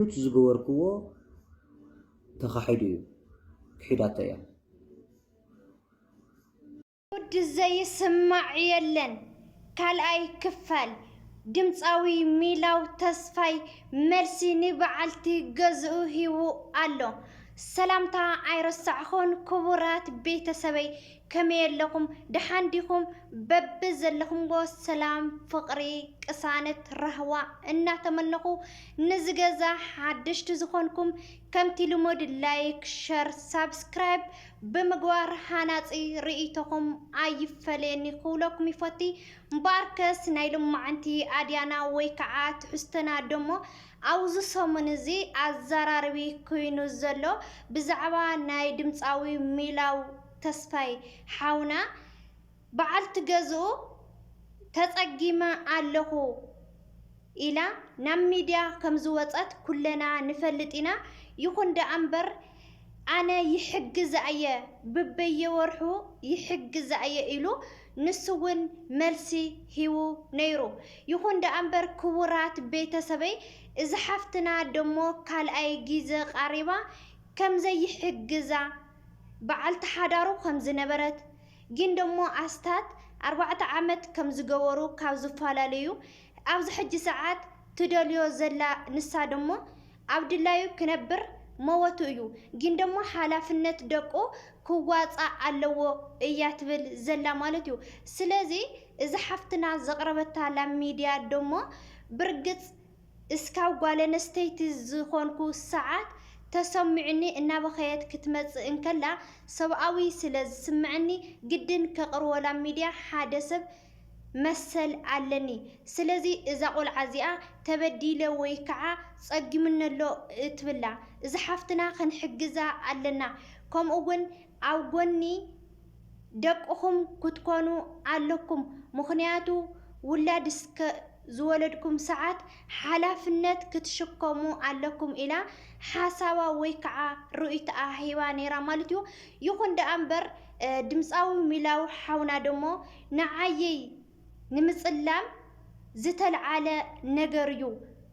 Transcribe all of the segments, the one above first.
ኑቲ ዝገበርክዎ ተኻሒዱ እዩ ክሒዳቶ እያ። ጉድ ዘይስማዕ የለን ካልኣይ ክፋል ድምጻዊ ሚላው ተስፋይ መልሲ ንበዓልቲ ገዝኡ ሂቡ ኣሎ። ሰላምታ ኣይረሳዕኹን ክቡራት ቤተሰበይ ከመይ ኣለኹም ደሓን ዲኹም በቢ ዘለኹምዎ ሰላም ፍቕሪ ቅሳነት ራህዋ እናተመነኹ ንዚ ገዛ ሓደሽቲ ዝኾንኩም ከምቲ ልሙድ ላይክ ሸር ሳብስክራይብ ብምግባር ሃናፂ ርእይቶኹም ኣይፈለየኒ ክብለኩም ይፈቲ እምበኣርከስ ናይ ልማዓንቲ ኣድያና ወይ ከዓ ትሕዝቶና ደሞ ኣብዚ ሰሙን እዚ ኣዘራርቢ ኮይኑ ዘሎ ብዛዕባ ናይ ድምፃዊ ሚላው ተስፋይ ሓውና በዓልቲ ገዝኡ ተፀጊመ ኣለኹ ኢላ ናብ ሚድያ ከምዝወፀት ኩለና ንፈልጥ ኢና። ይኹን ደኣ እምበር ኣነ ይሕግዛ እየ ብበየወርሑ ይሕግዛ እየ ኢሉ ንሱ እውን መልሲ ሂቡ ነይሩ። ይኹን ደኣ እምበር ክቡራት ቤተሰበይ እዚ ሓፍትና ደሞ ካልኣይ ጊዘ ቃሪባ ከምዘይሕግዛ በዓልቲ ሓዳሩ ከም ዝነበረት ግን ደሞ ኣስታት ኣርባዕተ ዓመት ከም ዝገበሩ ካብ ዝፈላለዩ ኣብዚ ሕጂ ሰዓት ትደልዮ ዘላ ንሳ ደሞ ኣብ ድላዩ ክነብር መወቱ እዩ ግን ደሞ ሓላፍነት ደቁ ክዋጻእ ኣለዎ እያ ትብል ዘላ ማለት እዩ ስለዚ እዛ ሓፍትና ዘቅረበታላ ሚድያ ደሞ ብርግጽ እስካብ ጓለነስተይቲ ዝኾንኩ ሰዓት ተሰሚዑኒ እናበኸየት ክትመፅእ እንከላ ሰብኣዊ ስለ ዝስመዐኒ ግድን ከቅርወላ ሚድያ ሓደ ሰብ መሰል ኣለኒ ስለዚ እዛ ቆልዓ እዚኣ ተበዲለ ወይ ከዓ ፀጊሙነሎ እትብላ እዛ ሓፍትና ክንሕግዛ ኣለና ከምኡ እውን ኣብ ጎኒ ደቅኹም ክትኮኑ ኣለኩም ምኽንያቱ ውላድ እስከ ዝወለድኩም ሰዓት ሓላፍነት ክትሽከሙ ኣለኩም ኢላ ሓሳባ ወይ ከዓ ርእይትኣ ሂባ ነይራ ማለት እዩ። ይኹን ደኣ እምበር ድምፃዊ ሚላው ሓውና ደሞ ንዓየይ ንምፅላም ዝተልዓለ ነገር እዩ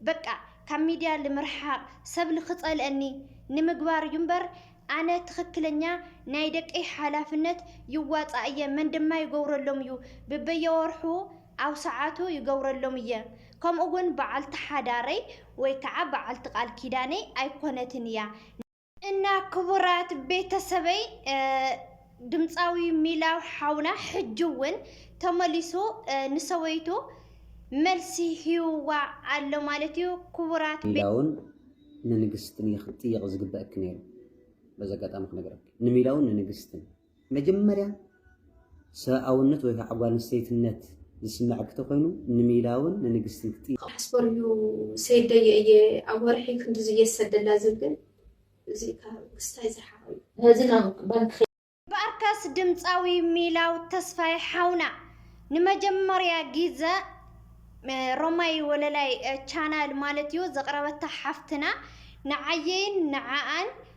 በቃ ካብ ሚድያ ልምርሓቕ ሰብ ልክፀልአኒ ንምግባር እዩ እምበር ኣነ ትኽክለኛ ናይ ደቀይ ሓላፍነት ይዋፃእ እየ መን ድማ ይገብረሎም እዩ ብበየወርሑ ኣብ ሰዓቱ ይገብረሎም እየ ከምኡ ውን በዓልቲ ሓዳረይ ወይ ከዓ በዓልቲ ቃል ኪዳነይ ኣይኮነትን እያ። እና ክቡራት ቤተሰበይ ድምፃዊ ሚላው ሓውና ሕጂ እውን ተመሊሱ ንሰበይቱ መልሲ ሂቡዋ ኣሎ ማለት እዩ ክቡራት ሚላውን ንንግስትን እየ ክትጥየቂ ዝግበእኪ ነይሩ በዚ ኣጋጣሚ ክነግረኪ ንሚላውን ንንግስትን መጀመርያ ሰብኣውነት ወይ ከዓ ጓል ኣንስተይትነት ዝስመዐኪ ተኾይኑ ንሚላውን ንንግስትን ክጥይቂ። ክሓስቦ እዩ ሰይደየ እየ ኣብ ወርሒ ክንድዚ እየ ዝሰደላ ዝብል እዙይ ካብ ምስታይ ዝረሓቀ እዩ። ነዚ ናብ ባንኪ ከይደ። በርከስ ድምፃዊ ሚላው ተስፋይ ሓውና ንመጀመርያ ጊዘ ሮማይ ወለላይ ቻናል ማለት እዩ ዘቅረበታ ሓፍትና ንዓየይን ንዓኣን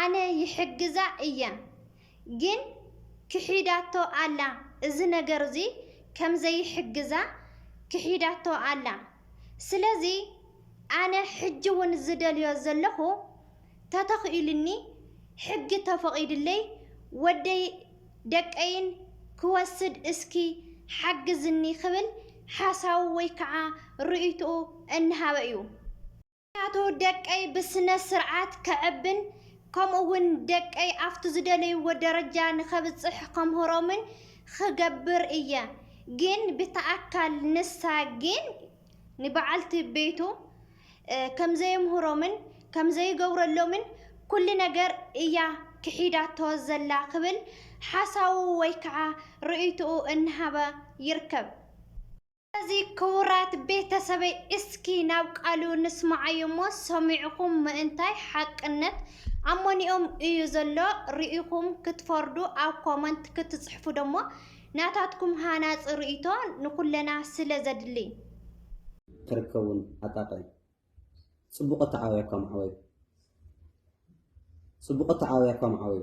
ኣነ ይሕግዛ እየ ግን ክሒዳቶ ኣላ እዚ ነገር እዚ ከም ዘይሕግዛ ክሒዳቶ ኣላ ስለዚ ኣነ ሕጂ ውን ዝደልዮ ዘለኩ ተተኪኢሉኒ ሕጊ ተፈቂድለይ ወደይ ደቀይን ክወስድ እስኪ ሓግዝኒ ክብል ሓሳቡ ወይ ከዓ ርእይትኡ እናሃበ እዩ። ምኽንያቱ ደቀይ ብስነ ስርዓት ከዕብን ከምኡ ውን ደቀይ ኣብቲ ዝደለይዎ ደረጃ ንኸብፅሕ ከምህሮምን ኽገብር እየ ግን ብተኣካል ንሳ ግን ንበዓልቲ ቤቱ ከምዘየምህሮምን ከምዘይገብረሎምን ኩሉ ነገር እያ ክሒዳቶ ዘላ ክብል ሓሳቡ ወይ ከዓ ርእይትኡ እናሃበ ይርከብ። ስለዚ ክቡራት ቤተሰበይ እስኪ ናብ ቃሉ ንስማዓዮ እሞ ሰሚዕኹም ምእንታይ ሓቅነት ኣሞኒኦም እዩ ዘሎ ርኢኹም ክትፈርዱ ኣብ ኮመንት ክትጽሕፉ ደሞ ናታትኩም ሃናጺ ርእይቶ ንኹለና ስለ ዘድሊ። ክርከቡን ኣጣቅዕ ጽቡቅ ኣተዓባብያ እኳ ምዓበዩ ጽቡቅ ኣተዓባብያ እኳ ምዓበዩ።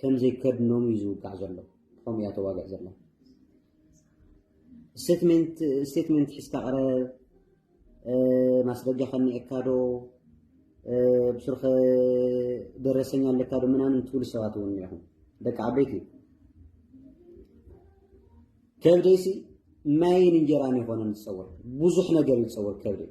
ከምዘይከድኖም እዩ ዝውቃዕ ዘሎ ከምኡ እያ ተዋግዕ ዘላ ስቴትመንት ሒዝካ ቅረብ ማስረጃ ከኒኤካ ዶ ብስርኸ ደረሰኛ ኣለካ ዶ ምናምን ትብሉ ሰባት እውን እኒኹም ደቂ ዓበይቲ ከብደይሲ ማይን እንጀራን ይኾነን ዝፀወር ብዙሕ ነገር ይፀወር ከብደይ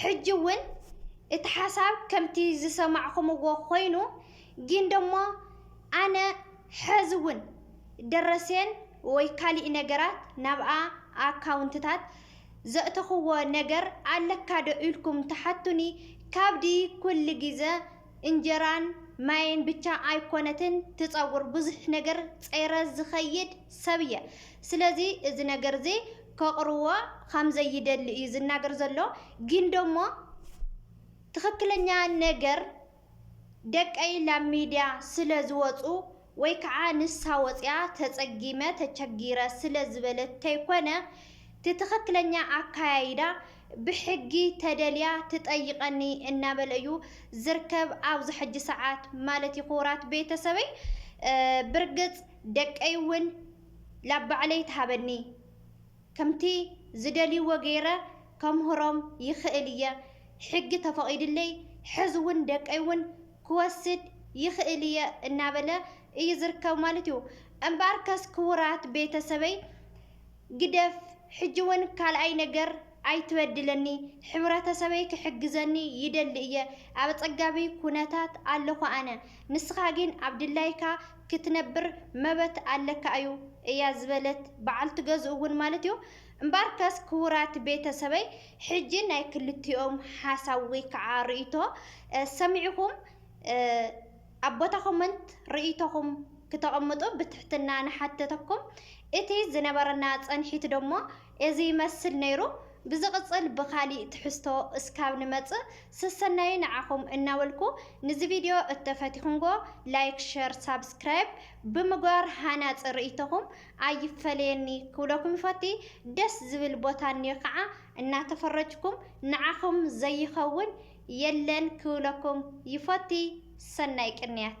ሕጂ እውን እቲ ሓሳብ ከምቲ ዝሰማዕኹምዎ ኮይኑ ጊን ደሞ ኣነ ሐዚ እውን ደረሴን ወይ ካሊእ ነገራት ናብኣ ኣካውንትታት ዘእተኹዎ ነገር ኣለካ ዶ ኢልኩም ትሓቱኒ ካብዲ ኩል ጊዘ እንጀራን ማይን ብቻ ኣይኮነትን ትፀውር ብዙሕ ነገር ፀይረ ዝኸይድ ሰብ እየ ስለዚ እዚ ነገር እዚ ከቕርዎ ከምዘይደሊ እዩ ዝናገር ዘሎ ግን ደሞ ትኽክለኛ ነገር ደቀይ ላብ ሚድያ ስለ ዝወፁ ወይ ከዓ ንሳ ወፂኣ ተፀጊመ ተቸጊረ ስለ ዝበለት ተይኮነ እቲ ትኽክለኛ ኣካያይዳ ብሕጊ ተደልያ ትጠይቀኒ እናበለ እዩ ዝርከብ ኣብዚ ሕጂ ሰዓት ማለት እዩ ክቡራት ቤተሰበይ ብርግፅ ደቀይ እውን ላብ ባዕለይ ትሃበኒ ከምቲ ዝደልይዎ ገይረ ከምህሮም ይኽእል እየ ሕጊ ተፈቂድለይ ሕዚ እውን ደቀይ እውን ክወስድ ይኽእል እየ እናበለ እዩ ዝርከብ ማለት እዩ። እምበኣርከስ ክቡራት ቤተ ሰበይ ግደፍ ሕጂ ውን ካልኣይ ነገር ኣይትበድለኒ ሕብረተሰበይ ክሕግዘኒ ይደሊ እየ ኣብ ኣጸጋቢ ኩነታት ኣለኹ ኣነ ንስኻ ግን ኣብ ድላይካ ክትነብር መበት ኣለካ እዩ እያ ዝበለት በዓልቲ ገዝኡ ውን ማለት እዩ። እምበኣርከስ ክቡራት ቤተ ሰበይ ሕጂ ናይ ክልቲኦም ሓሳብ ወይ ከዓ ርእይቶ ሰሚዕኹም ኣብ ቦታ ኮመንት ርእይቶኹም ክተቐምጡ ብትሕትና ንሓተተኩም። እቲ ዝነበረና ጸንሒት ደሞ እዚ ይመስል ነይሩ። ብዝቕጽል ብካሊእ ትሕዝቶ እስካብ ንመጽእ ሰሰናዩ ንዓኹም እናበልኩ ንዚ ቪድዮ እተፈቲኹምዎ ላይክ ሸር ሳብስክራይብ ብምግባር ሃናጺ ርእይቶኹም ኣይፈለየኒ ክብለኩም ይፈቲ ደስ ዝብል ቦታ እንዮ ካዓ እናተፈረጅኩም ንዓኹም ዘይኸውን የለን ክብለኩም ይፈቲ ሰናይ ቅንያት።